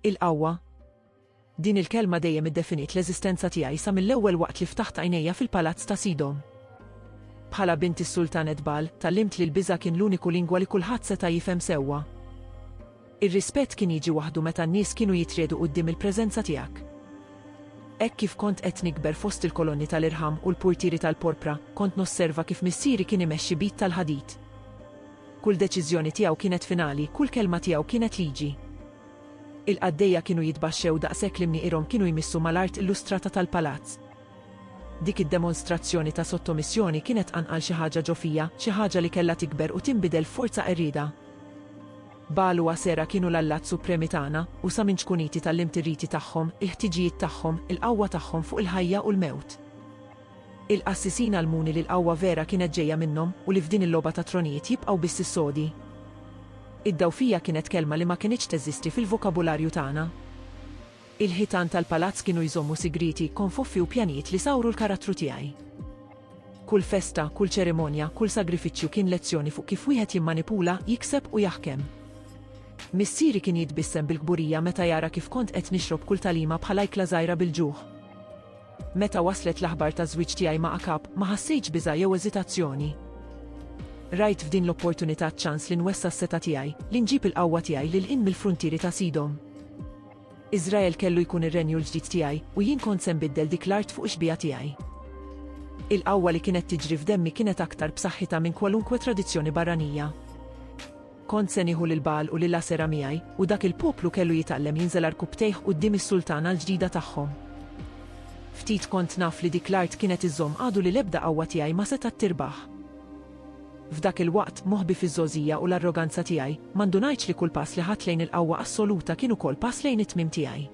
Il-qawwa. Din il-kelma dejjem iddefiniet l-eżistenza tiegħi sa mill-ewwel waqt li ftaħt għajnejja fil-palazz ta' Sidhom. Bħala bint is-Sultan Etbal, tgħallimt li l-biża' kien l-uniku lingwa li kulħadd seta' jifhem sewwa. Ir-rispett kien jiġi waħdu meta n-nies kienu jitriegħdu quddiem il-preżenza tiegħek. Hekk kif kont qed nikber fost il-kolonni tal-irħam u l-purtieri tal-porpra, kont nosserva kif missieri kien imexxi b'id tal-ħadid. Kull deċiżjoni tiegħu kienet finali, kull kelma tiegħu kienet liġi. Il-qaddejja kienu jitbaxxew daqshekk li mnieqirhom kienu jmissu mal-art illustrata tal-palazz. Dik id-demonstrazzjoni ta' sottomissjoni kienet qanqal xi ħaġa ġo fija, xi ħaġa li kellha tikber u tinbidel f'forza qerrieda. Bagħal u Asera kienu l-allat supremi tagħna, u sa minn ċkuniti tgħallimt ir-riti tagħhom, il-ħtiġijiet tagħhom, il-qawwa tagħhom fuq il-ħajja u l-mewt. Il-qassisin għallmuni li l-qawwa vera kienet ġejja minnhom u li f'din il-logħba tat-tronijiet jibqgħu biss is-sodi. Id-dgħufija kienet kelma li ma kinitx teżisti fil-vokabularju tagħna. Il-ħitan tal-palazz kienu jżommu sigrieti, konfuffi u pjanijiet li sawru l-karattru tiegħi. Kull festa, kull ċerimonja, kull sagrifiċċju kien lezzjoni fuq kif wieħed jimmanipula, jikseb u jaħkem. Missieri kien jitbissem bil-kburija meta jara kif kont qed nixrob kull tagħlima bħal ajkla żgħira bil-ġuħ. Meta waslet l-aħbar taż-żwieġ tiegħi ma' Akab, ma ħassejtx biża' jew eżitazzjoni. Rajt f'din l-opportunità ċ-ċans li nwessa' s-setgħa tiegħi, li nġib il-qawwa tiegħi lil hinn mill-fruntieri ta' Sidom. Iżrael kellu jkun ir-renju l-ġdid tiegħi, u jien kont se nbiddel dik l-art fuq ix-xbieha tiegħi. Il-qawwa li kienet tiġri f'demmi kienet aktar b'saħħitha minn kwalunkwe tradizzjoni barranija. Kont se nieħu lil Bagħal u lil Asera miegħi, u dak il-poplu kellu jitgħallem jinżel għarkupptejh quddiem is-sultana l-ġdida tagħhom. Ftit kont naf li dik l-art kienet iżżomm għadu li l-ebda qawwa tiegħi ma setgħet tirbaħ. F'dak il-waqt, moħbi fiż-żgħożija u l-arroganza tiegħi, ma ndunajtx li kull pass li ħadt lejn il-qawwa assoluta kien ukoll pass lejn it-tmiem tiegħi.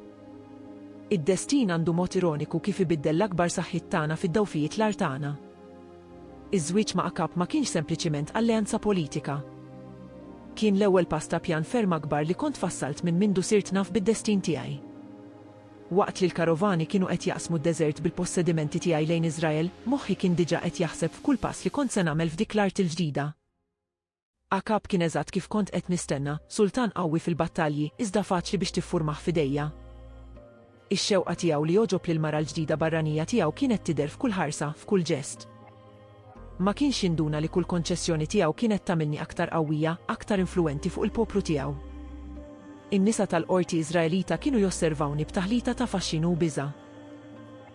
Id-destin għandu mod ironiku kif ibiddel l-akbar saħħiet tagħna fid-dgħufijiet l-agħar tagħna. Iż-żwieġ ma' Akab ma kienx sempliċiment alleanza politika. Kien l-ewwel pass ta' pjan ferm akbar li kont fassalt minn mindu sirt naf bid-destin tiegħi. Waqt li l-karovani kienu qed jaqsmu d-deżert bil-possedimenti tiegħi lejn Iżrael, moħħi kien diġà qed jaħseb f'kull pass li kont se nagħmel f'dik l-art il-ġdida. Akab kien eżatt kif kont qed nistenna, sultan qawwi fil-battalji, iżda faċli biex tiffurmah f'idejja. Ix-xewqa tiegħu li jogħġob lill-mara l-ġdida barranija tiegħu kienet tidher f'kull ħarsa, f'kull ġest. Ma kienx jinduna li kull konċessjoni tiegħu kienet tagħmilni aktar qawwija, aktar influwenti fuq il-poplu tiegħu. In-nisa tal-qorti Iżraelita kienu josservawni b'taħlita ta' faxxinu u biża'.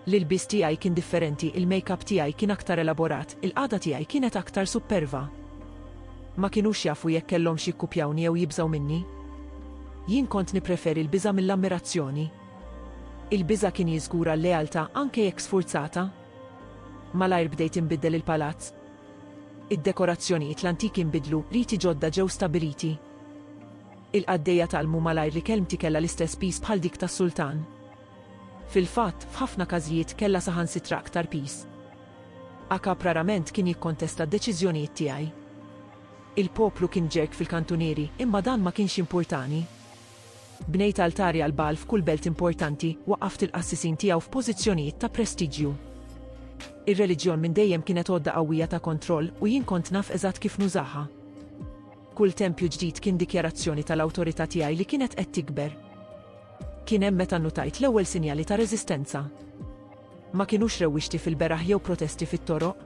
L-ilbies tiegħi kien differenti, il-makeup tiegħi kien aktar elaborat, il-qagħda tiegħi kienet aktar supperva. Ma kinux jafu jekk kellhomx jikkupjawni jew jibżgħu minni. Jien kont nippreferi l-biża' mill-ammirazzjoni. Il-biża' kien jiżgura l-lealtà anke jekk sfurzata. Malajr bdejt inbiddel il-palazz. Id-dekorazzjonijiet l-antiki nbidlu, riti ġodda ġew stabiliti. Il-qaddejja tgħallmu malajr li kelmti kellha l-istess piż bħal dik tas-sultan. Fil-fatt, f'ħafna każijiet kellha saħansitra aktar piż. Acap rarament kien jikkontesta d-deċiżjonijiet tiegħi. Il-poplu kien ġerg fil-kantunieri, imma dan ma kienx jimpurtani. Bnejt altari għal Bagħal f'kull belt importanti, waqqaft il-qassisin tiegħu f'pożizzjonijiet ta' prestiġju. Ir-reliġjon minn dejjem kienet għodda qawwija ta' kontroll u jien kont naf eżatt kif nużaha. Kull tempju ġdid kien dikjarazzjoni tal-awtorità tiegħi li kienet qed tikber. Kien hemm meta nnutajt l-ewwel sinjali ta' reżistenza. Ma kinux rewwixti fil-beraħ jew protesti fit-toroq.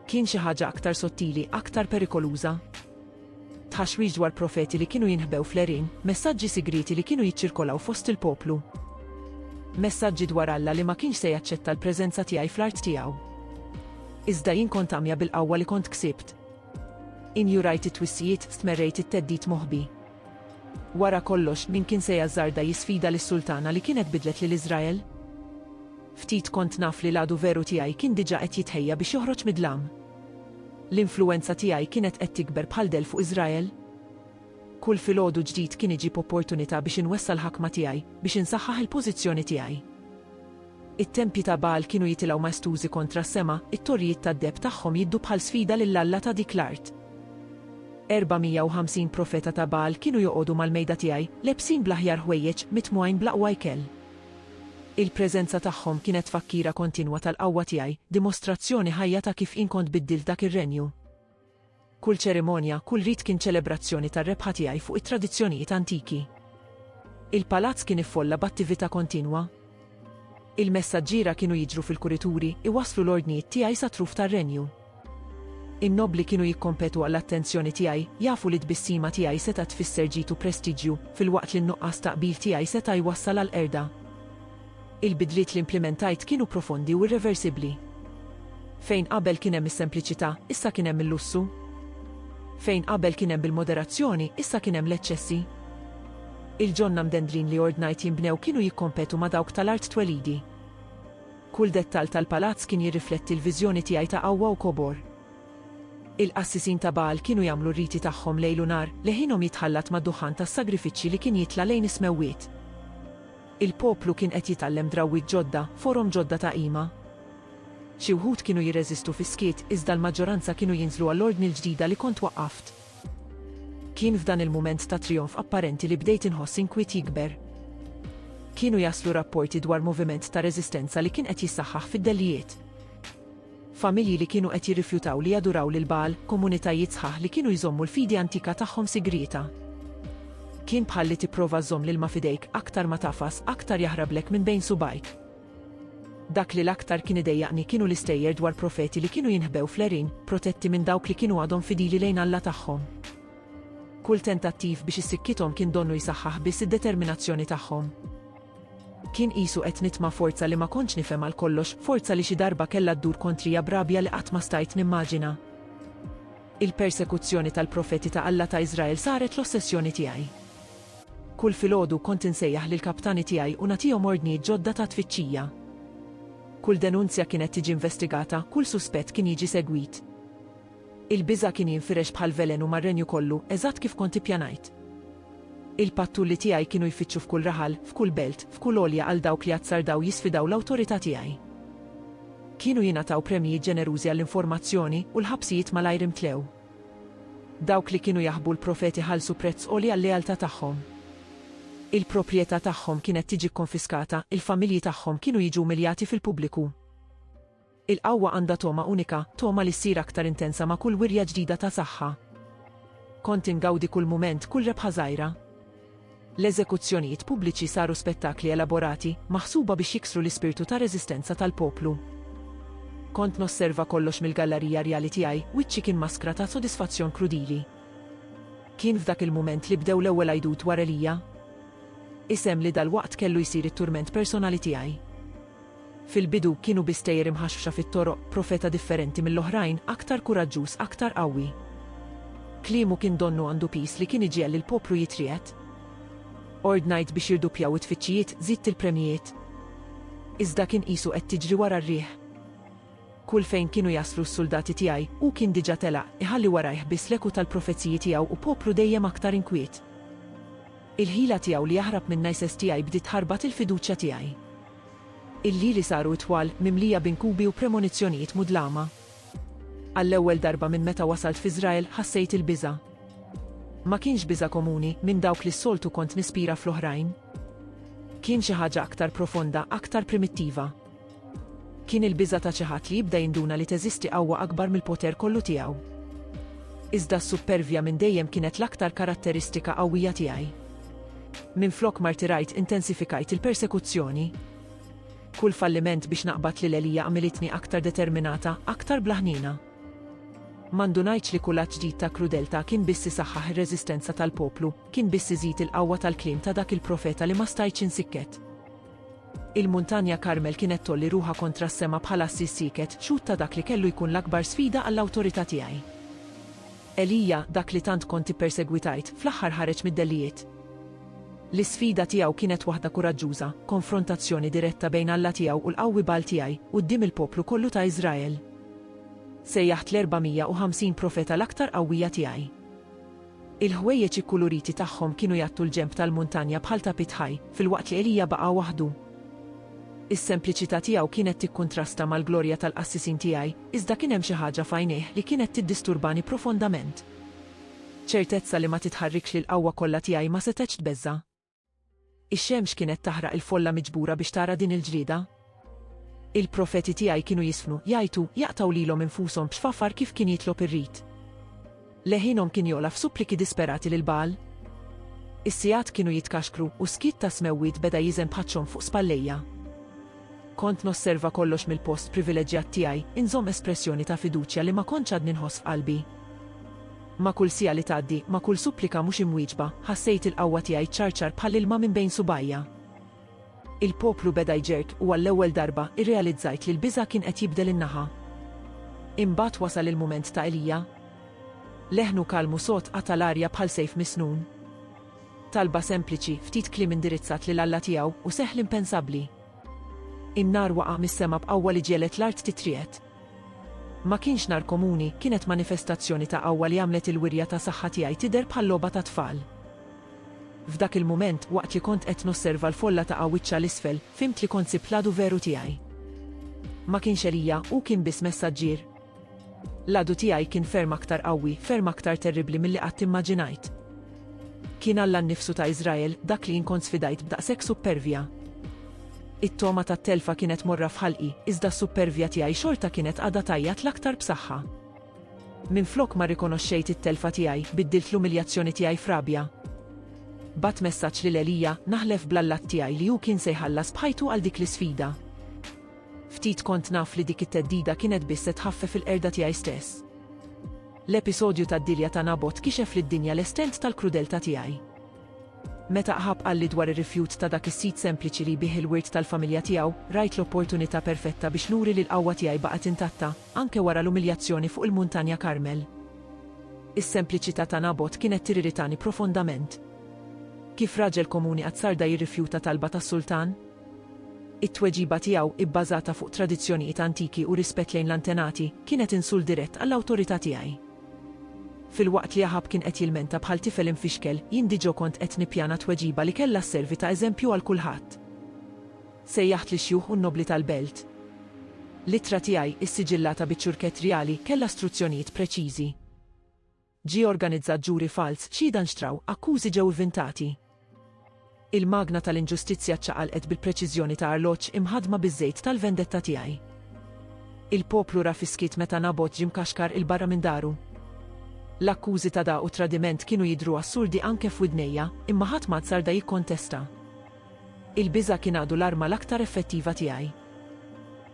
Kien xi ħaġa aktar sottili, aktar perikoluża. Tħaxwix dwar profeti li kienu jinħbew fl-għerien, messaġġi sigrieti li kienu jiċċirkolaw fost il-poplu. Messaġġi dwar Alla li ma kienx se jaċċetta l-preżenza tiegħi fl-art tiegħu. Iżda jien kont għamja bil-qawwa li kont ksibt. Injurajt it-twissijiet, stmerrejt it-theddid moħbi. Wara kollox, min kien se jażżarda jisfida lis-sultana li kienet bidlet lil Iżrael? Ftit kont naf li l-għadu veru tiegħi kien diġà qed jitħejja biex joħroġ mid-dlam. L-influwenza tiegħi kienet qed tikber bħal dell fuq Iżrael. Kull filgħodu ġdid kien iġib opportunità biex inwessa' l-ħakma tiegħi, biex insaħħaħ il-pożizzjoni tiegħi. It-tempji ta' Bagħal kienu jitilgħu maestużi kontra s-sema, it-torrijiet tad-deheb tagħhom jiddu bħal sfida lil alla ta' dik l-art. 450 profeta ta' Bagħal kienu joqogħdu mal-mejda tiegħi, lebsin bl-aħjar ħwejjeġ, mitmugħin bl-aqwa ikel. Il-preżenza tagħhom kienet tfakkira kontinwa tal-qawwa tiegħi, dimostrazzjoni ħajja ta' kif jien kont biddilt dak ir-renju. Kull ċerimonja, kull rit kien ċelebrazzjoni tar-rebħa tiegħi fuq it-tradizzjonijiet antiki. Il-palazz kien iffolla b'attività kontinwa. Il-messaġġiera kienu jiġru fil-kurituri, iwasslu l-ordnijiet tiegħi sat-truf tar-renju. In-nobbli kienu jikkompetu għall-attenzjoni tiegħi, jafu li t-tbissima tiegħi setgħet tfisser ġid u prestiġju, filwaqt li n-nuqqas ta' qbil tiegħi seta' jwassal għall-qerda. Il-bidliet li implimentajt kienu profondi u irreversibbli. Fejn qabel kien hemm is-sempliċità, issa kien hemm il-lussu. Fejn qabel kien hemm bil-moderazzjoni, issa kien hemm l-eċċessi. Il-ġonna mdendlin li ordnajt jinbnew kienu jikkompetu ma' dawk tal-art twelidi. Kull dettall tal-palazz kien jirrifletti l-viżjoni tiegħi ta' qawwa u kobor. Il-qassisin ta' Bagħal kienu jagħmlu r-riti tagħhom lejl u nhar, leħinhom jitħallat mad-duħħan tas-sagrifiċċji li kien jitla' lejn is-smewwiet. Il-poplu kien qed jitgħallem drawwiet ġodda, forom ġodda ta' qima. Xi wħud kienu jirreżistu fis-skiet, iżda l-maġġoranza kienu jinżlu għall-ordni l-ġdida li kont waqqaft. Kien f'dan il-mument ta' trijonf apparenti li bdejt inħoss inkwiet jikber. Kienu jaslu rapporti dwar moviment ta' reżistenza li kien qed jissaħħaħ fid-dellijiet. familji li kienu qed jirrifjutaw li jaduraw lil Bagħal, komunitajiet sħaħ li kienu jżommu l-fidi antika tagħhom sigrieta. Kien bħal li tipprova żżomm l-ilma f'idejk, aktar ma tagħfas, aktar jaħrablek minn bejn subgħajk. Dak li l-aktar kien idejjaqni kienu l-istejjer dwar profeti li kienu jinħbew fl-għerien, protetti minn dawk li kienu għadhom fidili lejn Alla tagħhom. Kull tentattiv biex issikkithom kien donnu jsaħħaħ biss id-determinazzjoni tagħhom. Kien qisu qed nitma' forza li ma kontx nifhem għal kollox, forza li xi darba kellha ddur kontrija b'rabja li qatt ma stajt nimmaġina. Il-persekuzzjoni tal-profeti ta' Alla ta' Iżrael saret l-ossessjoni tiegħi. Kull filgħodu kont insejjaħ lill-kaptani tiegħi u nagħtihom ordnijiet ġodda ta' tfittxija. Kull denunzja kienet tiġi investigata, kull suspett kien jiġi segwit. Il-biża' kien jinfirex bħal velenu mar-renju kollu, eżatt kif kont ippjanajt. Il-pattulli tiegħi kienu jfittxu f'kull raħal, f'kull belt, f'kull għolja għal dawk li azzardaw jisfidaw l-awtorità tiegħi. Kienu jingħataw premji ġenerużi għall-informazzjoni u l-ħabsijiet malajr imtlew. Dawk li kienu jaħbu l-profeti ħallsu prezz għoli għal-lealtà tagħhom. Il-proprjetà tagħhom kienet tiġi kkonfiskata, il-familji tagħhom kienu jiġu umiljati fil-pubbliku. Il-qawwa għandha togħma unika, togħma li ssir aktar intensa ma' kull wirja ġdida ta' saħħa. Kont ingawdi kull mument, kull rebħa żgħira. L-eżekuzzjonijiet pubbliċi saru spettakli elaborati, maħsuba biex jiksru l-ispirtu ta' reżistenza tal-poplu. Kont nosserva kollox mill-gallarija rjali tiegħi, wiċċi kien maskra ta' sodisfazzjon krudili. Kien f'dak il-mument li bdew l-ewwel għidut wara Elija. Isem li dalwaqt kellu jsir it-turment personali tiegħi. Fil-bidu, kienu bi stejjer imħaxħxa fit-toroq, profeta differenti mill-oħrajn, aktar kuraġġuż, aktar qawwi. Kliemu kien donnu għandu piż li kien iġiegħel lill-poplu jitriegħed. Ordnajt biex jirduppjaw it-tfittxijiet, żidt il-premjijiet. Iżda kien qisu qed tiġri wara r-riħ. Kull fejn kienu jaslu s-suldati tiegħi, hu kien diġà telaq, iħalli warajh biss l-eku tal-profeziji tiegħu u poplu dejjem aktar inkwiet. Il-ħila tiegħu li jaħrab minna jsestihaj bdiet tħarbat il-fiduċja tiegħi. Il-lili saru itwal, mimlija b'inkubi u premonizzjonijiet mudlama. Għall-ewwel darba minn meta wasalt f'Iżrael ħassejt il-biża'. Ma kienx biża' komuni, minn dawk li s-soltu kont nispira fl-oħrajn. Kien xi ħaġa aktar profonda, aktar primittiva. Kien il-biża' ta' xi ħadd li jibda jinduna li teżisti qawwa akbar mill-poter kollu tiegħu. Iżda s-suppervja minn dejjem kienet l-aktar karatteristika qawwija tiegħi. Minflok martirajt intensifikajt il-persekuzzjoni. Kull falliment biex naqbad lil Elija għamilitni aktar determinata, aktar bla ħniena. Ma ndunajtx li kull att ġdid ta' krudeltà kien biss isaħħaħ ir-reżistenza tal-poplu, kien biss iżid il-qawwa tal-kliem ta' dak il-profeta li ma stajtx insikket. Il-Muntanja Karmel kienet tgħolli ruħha kontra s-sema bħal għassis sieket, xhud ta' dak li kellu jkun l-akbar sfida għall-awtorità tiegħi. Elija, dak li tant kont ippersegwitajt, fl-aħħar ħareġ mid-dellijiet. L-isfida tiegħu kienet waħda kuraġġuża, konfrontazzjoni diretta bejn Alla tiegħu u l-qawwi Baal tiegħi, quddiem il-poplu kollu ta' Iżrael. Sejjaħt l-450 profeta l-aktar qawwija tiegħi. Il-ħwejjeġ ikkuluriti tagħhom kienu jgħattu l-ġenb tal-muntanja bħal tapit ħaj, filwaqt li Elija baqa' waħdu. Is-sempliċità tiegħu kienet tikkuntrasta mal-glorja tal-qassisin tiegħi, Iżda kien hemm xi ħaġa f'għajnejh li kienet tiddisturbani profondament. Ċertezza li ma titħarrikx li l-qawwa kollha tiegħi ma setgħetx tbeżża'. Ix-xemx kienet taħraq il-folla miġbura biex tara din il-ġlieda. Il-profeti tiegħi kienu jiżfnu, jgħajtu, jaqtgħu lilhom infushom b'xfafar kif kien jitlob ir-rit. Leħinhom kien jogħla f'suppliki disperati lil Bagħal. Is-sigħat kienu jitkaxkru u s-skiet tas-smewwiet beda jiżen b'ħaċċhom fuq spallejja. Kont nosserva kollox mill-post privileġġjat tiegħi, inżomm espressjoni ta' fiduċja li ma kontx għadni nħoss f'qalbi. Ma' kull siegħa li tgħaddi, ma' kull supplika mhux imwieġba, ħassejt il-qawwa tiegħi ċċarċar bħall-ilma minn bejn subgħajja. Il-poplu beda jġerrq u għall-ewwel darba irrealizzajt li l-biża' kien qed jibdel in-naħa. Imbagħad wasal il-mument ta' Elija. Leħnu kalm u sod qata' l-arja bħal sejf misnun. Talba sempliċi, ftit kliem indirizzat lil Alla tiegħu, u seħħ l-impensabbli. In-nar waqa' mis-sema b'qawwa li ġegħlet l-art titriegħed. Ma kienx nhar komuni, kienet manifestazzjoni ta' qawwa li għamlet il-wirja ta' saħħa tiegħi tidher bħal logħba ta' tfal. F'dak il-mument, waqt li kont qed nosserva l-folla taqa' wiċċha 'l isfel, fhimt li kont sibt l-għadu veru tiegħi. Ma kienx Elija, hu kien biss messaġġier. L-għadu tiegħi kien ferm aktar qawwi, ferm aktar terribbli milli qatt immaġinajt. Kien Alla nnifsu ta' Iżrael dak li jien kont sfidajt b'daqshekk suppervja. It-togħma tat-telfa kienet morra f'ħalqi, iżda s-suppervja tiegħi xorta kienet qagħda tgħajjat l-aktar b'saħħa. Minflok ma rrikonoxxejt it-telfa tiegħi, biddilt l-umiljazzjoni tiegħi f'rabja. Bgħatt messaġġ lil Elija, naħlef bl-Alla tiegħi li hu kien se jħallas b'ħajtu għal dik l-isfida. Ftit kont naf li dik it-theddida kienet biss se tħaffef il-qerda tiegħi stess. L-episodju tad-dilja ta' Nabot kixef lid-dinja l-estent tal-krudeltà tiegħi. Meta Aħab qalli dwar ir-rifjut ta' dak is-sid sempliċi li jbigħ il-wirt tal-familja tiegħu, rajt l-opportunità perfetta biex nuri li l-qawwa tiegħi baqgħet intatta, anke wara l-umiljazzjoni fuq il-Muntanja Karmel. Is-sempliċità ta' Nabot kienet tiriritani profondament. Kif raġel komuni qatt sar da jirrifjuta talba tas-sultan? It-tweġiba tiegħu, ibbażata fuq tradizzjonijiet antiki u rispett lejn l-antenati, kienet insult dirett għall-awtorità tiegħi. Filwaqt li Aħab kien qed jilmenta bħal tifel imfixkel, jien diġò kont qed nippjana tweġiba li kellha sservi ta' eżempju għal kulħadd. Sejjaħt lix-xjuħ u n-nobbli tal-belt. L-ittra tiegħi, issiġillata biċ-ċurkett rjali, kellha struzzjonijiet preċiżi. Ġie organizzat ġuri falz, xhieda nxtraw, akkużi ġew ivvintati. Il-magna tal-inġustizzja ċċaqalqet bil-preċiżjoni ta' arloġġ imħaddma biż-żejt tal-vendetta tiegħi. Il-poplu ra fis-skiet meta Nabot ġie mkaxkar 'il barra minn daru. L-akkużi ta' dagħa u tradiment kienu jidhru assurdi anke f'widnejja, imma ħadd m'għad sarda jikkontesta. Il-biża' kien għadu l-arma l-aktar effettiva tiegħi.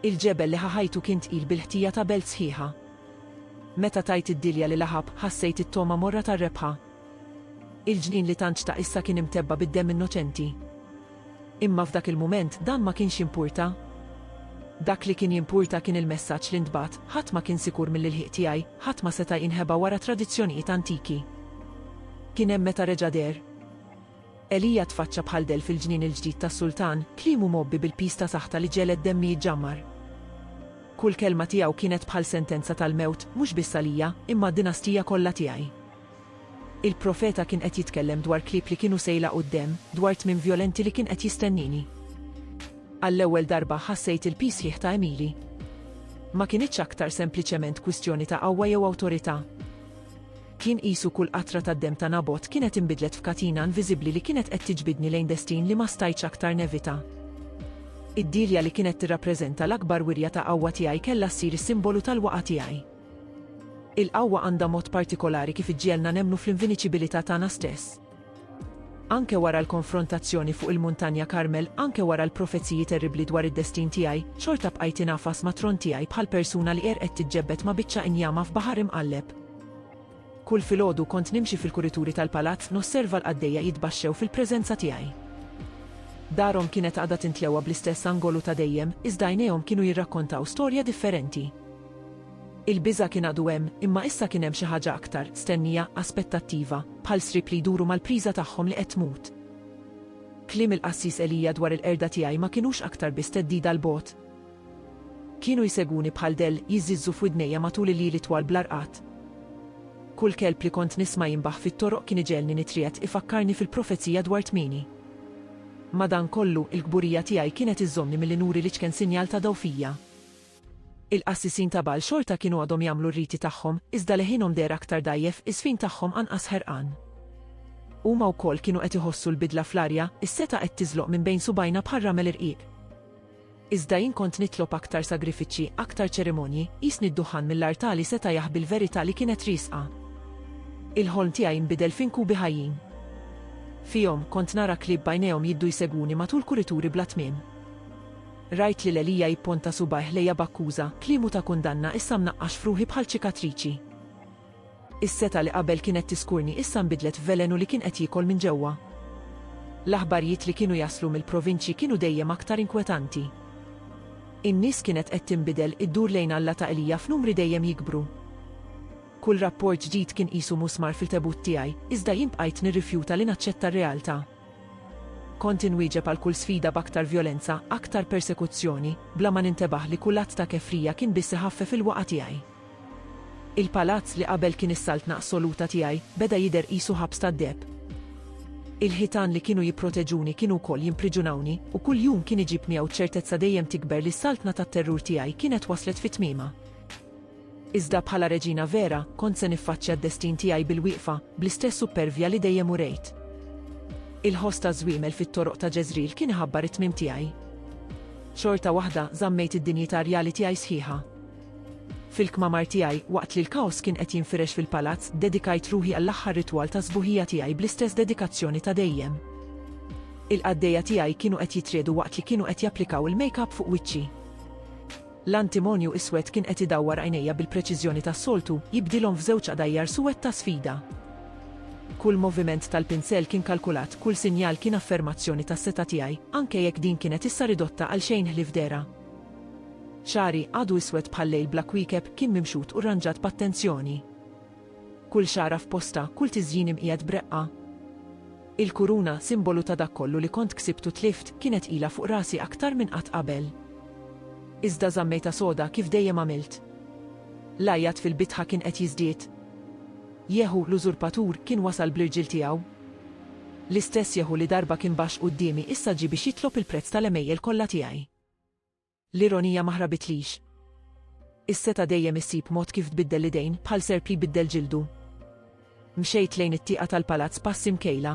Il-ġebel li ħa ħajtu kien tqil bil-ħtija ta' belt sħiħa. Meta tajt id-dilja lil Aħab, ħassejt it-togħma morra tar-rebħa. Il-ġnien li tant xtaq issa kien imtebba' bid-demm innoċenti. Imma f'dak il-mument dan ma kienx jimpurta. Dak li kien jimpurta kien il-messaġġ li ntbagħat, ħadd ma kien sikur mill-ilħiq tiegħi, ħadd ma seta' jinħeba wara tradizzjonijiet antiki. Kien hemm meta reġa' deher. Elija tfaċċa bħal dell fil-ġnien il-ġdid tas-sultan, kliemu mgħobbi bil-piż ta' saħta li ġeled demmi jiġġammar. Kull kelma tiegħu kienet bħal sentenza tal-mewt, mhux biss għalija, imma għad-dinastija kollha tiegħi. Il-profeta kien qed jitkellem dwar klieb li kienu se jlaqgħu d-demm, dwar tmiem vjolenti li kien qed jistennini. Għall-ewwel darba ħassejt il-piż sħiħ ta' Emily. Ma kinitx aktar sempliċement kwistjoni ta' qawwa jew awtorità. Kien qisu kull qatra tad-demm ta' Nabot kienet inbidlet f'katina inviżibbli li kienet qed tiġbidni lejn destin li ma stajtx aktar nevita. Id-dielja li kienet tirrappreżenta l-akbar wirja ta' qawwa tiegħi kellha ssir is-simbolu tal-waqgħa tiegħi. Il-qawwa għandha mod partikolari kif iġġiegħlna nemmnu fl-inviniċibilità tagħna stess. anke wara l-konfrontazzjoni fuq il-Muntanja Karmel, anke wara l-profeziji terribbli dwar id-destin tiegħi, xorta bqajt ingħafas mat-tron tiegħi bħal persuna li qerqet tiġġebbed ma' biċċa injama f'baħar imqalleb. Kull filgħodu kont nimxi fil-kurituri tal-palazz nosserva l-qaddejja jitbaxxew fil-preżenza tiegħi. Darhom kienet għadha tintlewa bl-istess angolu ta' dejjem, iżda għajnejhom kienu jirrakkontaw storja differenti. Il-biża' kien għadu hemm, imma issa kien hemm xi ħaġa aktar, stennija, aspettattiva, bħal sriep li jduru mal-priża tagħhom li qed tmut. Kliem il-qassis Elija dwar il-qerda tiegħi ma kinux aktar biss theddida 'l bogħod. Kienu jsegwuni bħal dell, jiżżiżżu f'widnejja matul il-lili twal bla rqad. Kull kelb li kont nisma' jinbaħ fit-toroq kien iġegħelni nitriegħed, ifakkarni fil-profezija dwar tmieni. Madankollu, il-kburija tiegħi kienet iżżommni milli nuri l-iċken sinjal ta' dgħufija. Il-qassisin ta' Bagħal xorta kienu għadhom jagħmlu r-riti tagħhom, iżda leħinhom deher aktar dgħajjef, iż-żfin tagħhom anqas ħerqan. Huma wkoll kienu qed iħossu l-bidla fl-arja, is-setgħa qed tiżloq minn bejn subgħajna bħar-ramel irqiq. Iżda jien kont nitlob aktar sagrifiċċji, aktar ċerimonji, qisni d-duħħan mill-artali seta' jaħbi l-verità li kienet riesqa. Il-ħolm tiegħi nbidel f'inkubi ħajjin. Fihom, kont nara klieb b'għajnejhom jiddu jsegwuni matul kurituri bla tmiem. Rajt lil Elija jipponta subgħajh lejja b'akkuża, kliemu ta' kundanna issa mnaqqax f'ruħi bħal ċikatriċi. Is-setgħa li qabel kienet tiskurni issa nbidlet f'velenu li kien qed jiekol minn ġewwa. L-aħbarjiet li kienu jaslu mill-provinċji kienu dejjem aktar inkwetanti. In-nies kienet qed tinbidel, iddur lejn Alla ta' Elija f'numri dejjem jikbru. Kull rapport ġdid kien qisu musmar fil-tebut tiegħi, iżda jien bqajt nirrifjuta li naċċetta r-realtà. Kont inwieġeb għal kull sfida b'aktar vjolenza, aktar persekuzzjoni, bla ma nintebaħ li kull att ta' kefrija kien biss iħaffef il-waqgħa tiegħi. Il-palazz, li qabel kien is-saltna assoluta tiegħi, beda jidher qisu ħabs tad-deheb. Il-ħitan li kienu jipproteġuni kienu wkoll jimpriġunawni, u kull jum kien iġib miegħu ċ-ċertezza dejjem tikber li s-saltna tat-terrur tiegħi kienet waslet fi tmiemha. Iżda bħala reġina vera, kont se niffaċċja d-destin tiegħi bil-wieqfa, bl-istess suppervja li dejjem urejt. Il-ħoss taż-żwiemel fit-toroq ta' Ġeżril kien iħabbar it-tmiem tiegħi. Xorta waħda, żammejt id-dinjità rjali tiegħi sħiħa. Fil-kmamar tiegħi, waqt li l-kaos kien qed jinfirex fil-palazz, ddedikajt ruħi għall-aħħar ritwal ta' sbuħija tiegħi bl-istess dedikazzjoni ta' dejjem. Il-qaddejja tiegħi kienu qed jitriegħdu waqt li kienu qed japplikaw il-make-up fuq wiċċi. L-antimonju iswed kien qed idawwar għajnejja bil-preċiżjoni tas-soltu, jibdilhom f'żewġ qdajjar suwed ta' sfida. Kull moviment tal-pinsell kien kalkulat, kull sinjal kien affermazzjoni tas-setgħa tiegħi, anke jekk din kienet issa ridotta għal xejn ħlief dehra. Xagħri, għadu iswed bħal-lejl bla kwiekeb, kien mimxut u rranġat b'attenzjoni. Kull xagħra f'postha, kull tiżjin imqiegħed b'reqqa. Il-kuruna, simbolu ta' dak kollu li kont ksibt u tlift, kienet ilha fuq rasi aktar minn qatt qabel. Iżda żammejtha soda kif dejjem għamilt. L-għajjat fil-bitħa kien qed jiżdied. Jehu, l-użurpatur, kien wasal bl-irġiel tiegħu. L-istess Jehu li darba kien baxx quddiemi issa ġie biex jitlob il-prezz tal-għemejjel kollha tiegħi. L-ironija ma ħrabitlix. Is-setgħa dejjem issib mod kif tbiddel l-idejn, bħal serp li jbiddel ġildu. Mxejt lejn it-tieqa tal-palazz passi mkejla.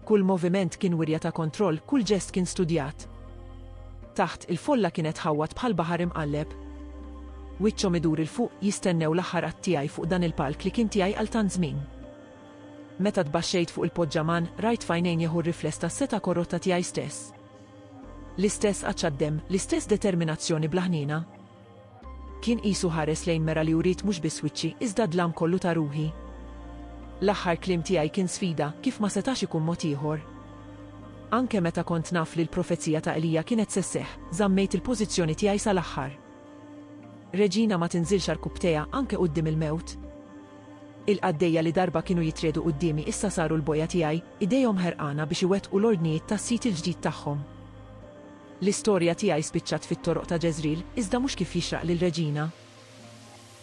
Kull moviment kien wirja ta' kontroll, kull ġest kien studjat. Taħt, il-folla kienet tħawwad bħal baħar imqalleb. Wiċċhom idur 'il fuq, jistennew l-aħħar att tiegħi fuq dan il-palk li kien tiegħi għal tant żmien. Meta tbaxxejt fuq il-poġġaman, rajt f'għajnejn Jehu r-rifless tas-setgħa korrotta tiegħi stess. L-istess għatx għad-demm, l-istess determinazzjoni bla ħniena. Kien qisu ħares lejn mera li uriet mhux biss wiċċi, iżda d-dlam kollu ta' ruħi. L-aħħar kliem tiegħi kien sfida, kif ma setax ikun mod ieħor. Anke meta kont naf li l-profezija ta' Elija kienet se sseħħ, żammejt il-pożizzjoni tiegħi sal-aħħar. Regina ma tinżilx għarkupptejha anke quddiem il-mewt. Il-qaddejja li darba kienu jitriegħdu quddiemi issa saru l-bojja tiegħi, idejhom ħerqana biex iwettqu l-ordnijiet tas-sid il-ġdid tagħhom. L-istorja tiegħi spiċċat fit-toroq ta' Ġeżril, iżda mhux kif jixraq lil Reġina.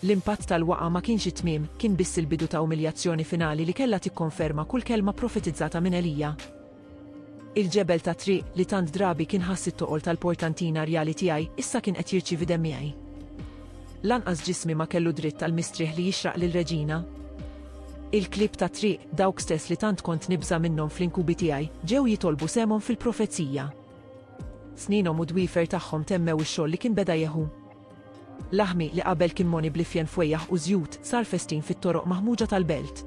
L-impatt tal-waqgħa ma kienx it-tmiem, kien biss il-bidu ta' umiljazzjoni finali li kellha tikkonferma kull kelma pprofetizzata minn Elija. Il-ġebel tat-triq li tant drabi kien ħass it-toqol tal-portantina rjali tiegħi issa kien qed jirċievi demmiegħi. Lanqas ġismi ma kellu dritt għal mistrieħ li jixraq lil Reġina. Il-klieb tat-triq, dawk stess li tant kont nibża' minnhom fl-inkubi tiegħi, ġew jitolbu sehemhom fil-profezija. Sninhom u d-dwiefer tagħhom temmew ix-xogħol li kien beda Jeħu. Laħmi, li qabel kien moni bl-ifjen fwejjaħ u żjut, sar festin fit-toroq maħmuġa tal-belt.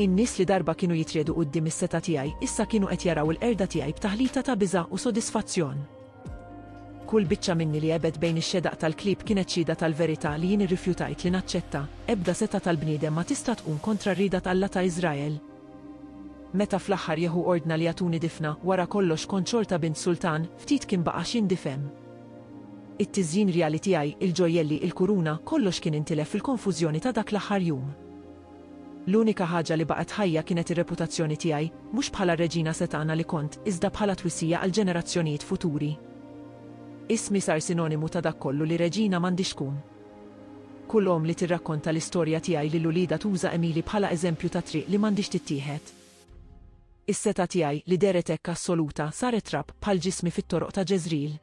In-nies li darba kienu jitriegħdu quddiem is-setgħa tiegħi, issa kienu qed jaraw il-qerda tiegħi b'taħlita ta' biża' u sodisfazzjon. Kull biċċa minni li għebet bejn ix-xedaq tal-klieb kienet xhieda tal-verità li jien irrifjutajt li naċċetta, ebda setgħa tal-bniedem ma tista' tqum kontra r-rieda t'Alla ta' Iżrael. Meta fl-aħħar Jeħu ordna li jagħtuni difna, wara kollox kont xorta bint sultan, ftit kien baqa' xi ndifhem. It-tiżjin rjali tiegħi, il-ġojjelli, il-kuruna, kollox kien intilef fil-konfużjoni ta' dak l-aħħar jum. L-unika ħaġa li baqgħet ħajja kienet ir-reputazzjoni tiegħi, mhux bħala r-reġina setgħana li kont, iżda bħala twissija għal ġenerazzjonijiet futuri. Ismi sar sinonimu ta' dak kollu li reġina m'għandhiex tkun. Kull omm li tirrakkonta l-istorja tiegħi lil uliedha tuża Emily bħala eżempju ta' triq li m'għandhiex tittieħed. Is-setgħa tiegħi, li dehret hekk assoluta, saret trab bħal ġismi fit-toroq ta' Ġeżril.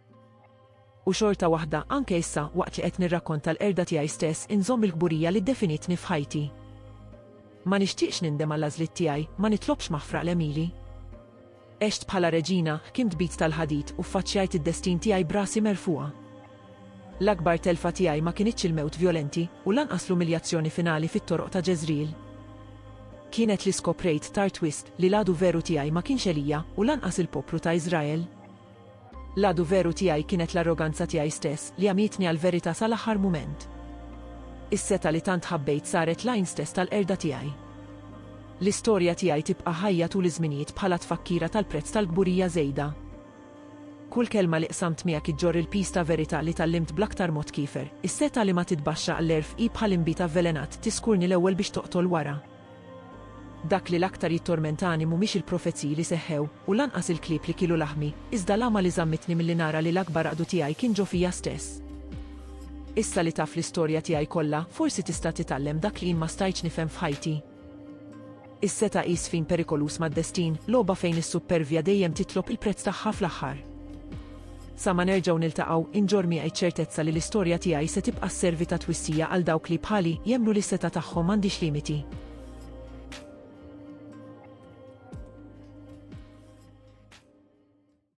U xorta waħda, anke issa, waqt li qed nirrakkonta l-qerda tiegħi stess, inżomm il-kburija li ddefinitni f'ħajti. Ma nixtieqx nindem għall-għażliet tiegħi, ma nitlobx maħfra l-għemili. Għext bħala reġina, ħkimt b'id tal-ħadid u ffaċċjajt id-destin tiegħi b'rasi merfugħa. L-akbar telfa tiegħi ma kinitx il-mewt vjolenti u lanqas l-umiljazzjoni finali fit-toroq ta' Ġeżril. Kienet li skoprejt tard wisq li l-għadu veru tiegħi ma kienx Elija u lanqas il-poplu ta' Iżrael. L-għadu veru tiegħi kienet l-arroganza tiegħi stess li għamietni għall-verità sal-aħħar mument. Is-setgħa li tant ħabbejt saret l-għajn stess tal-qerda tiegħi. L-istorja tiegħi tibqa' ħajja tul iż-żminijiet bħala tfakkira tal-prezz tal-kburija żejda. Kull kelma li qsamt miegħek iġġorr il-piż ta' verità li tgħallimt bl-aktar mod kiefer. Is-setgħa li ma titbaxxa għall-għerf hi bħal inbid avvelenat, tiskurni l-ewwel biex toqtol wara. Dak li l-aktar jittormentani mhumiex il-profeziji li seħħew, u lanqas il-klieb li kielu laħmi, iżda l-għama li żammitni milli nara li l-akbar għaqdu tiegħi kien ġo fija stess. Issa li taf l-istorja tiegħi kollha, forsi tista' titgħallem dak li jien ma stajtx nifhem f'ħajti. Is-setgħa hi sfin perikoluż mad-destin, logħba fejn is-suppervja dejjem titlob il-prezz tagħha fl-aħħar. Sa ma nerġgħu niltaqgħu, inġorr miegħi ċ-ċertezza li l-istorja tiegħi se tibqa' sservi ta' twissija għal dawk li, bħali, jemmnu li s-setgħa tagħhom m'għandhiex limiti.